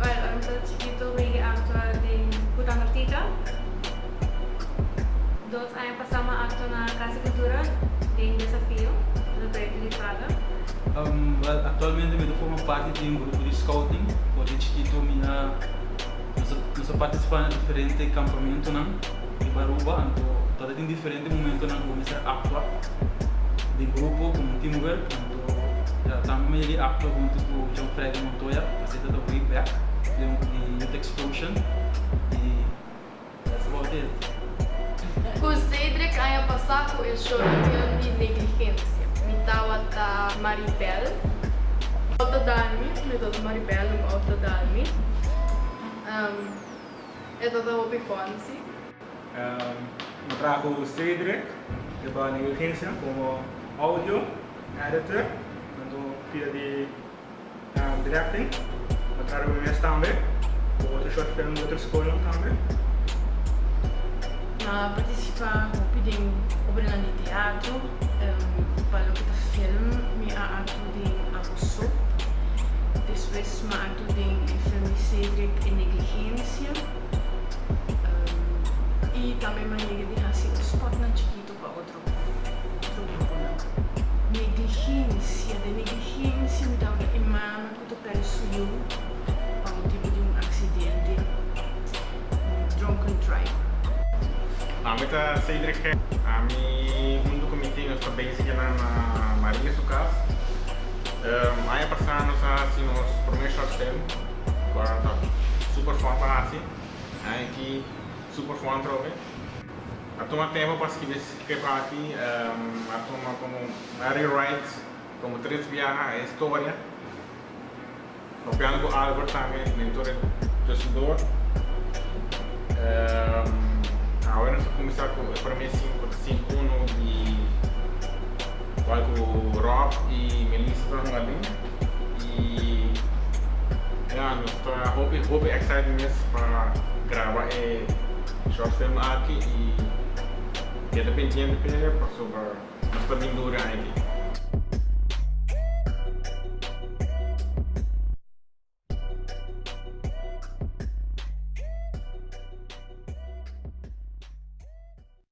Ora mi ta chikito mi aktua den Kuta Nortica. Dos aña pasá mi a aktua na Casa di Kultura den Desafio, un proyekto di Praga. Aktualmente mi ta forma parti di un grupo di scouting. Ora di chikito mi a partisipá na diferente kampamentunan riba Aruba, anto tabata tin diferente. E momento nan cuminsa actua di grupo como un teamwork. Nan lo ta tamba medio di actua hunto cu John Freddy Montoya, asina ta way back di Youth Explosion y that's about it. Cu Cedric a haña pasa cu e shortfilm di Negligencia. Mi tawata Maribel. Auto Dalmi, mi tawata Maribel, auto Dalmi. E tawata hopi bon si. Nos traho Cedric e ba na e agencia como audio editor tanto pia di directing. Nos traha riba mes tambe cu otro short film di otro scolnan tambe. Nos a participa hopi den obranan di teatro. Pa loke ta film mi a actu den Abo So. Despues m'ha actu den e film di Cedric E Negligencia. i tambe manera di hasi un spotnan chikito pa otro gruponan. Negligencia, den negligencia mi ta habra e mama ku ta pèrdè su yu pa un tipo di un aksidente, un drunken driver. Nan mi ta Cedric Gerrit. Ami huntu ku mi tin nos ta bense kinan na Maria su kas. Aña pasá nos a hasi nos promé short term. Barbara ta super fon pa haci nan aki super fon tro be a tuma tempo pa scribi e script aki a tuma como a rewrite como tres biaha e historia hopiando cu Albert tambe mentor e tusendor awe nos a cuminsa cu e primer cinco ta sin uno di cual cu Rob y Melissa ta hunga den. Y ya, nos ta hopi hopi excited mes pa graba e short film aki y keda pendiente p'e pasobra nos ta bin duri aña di.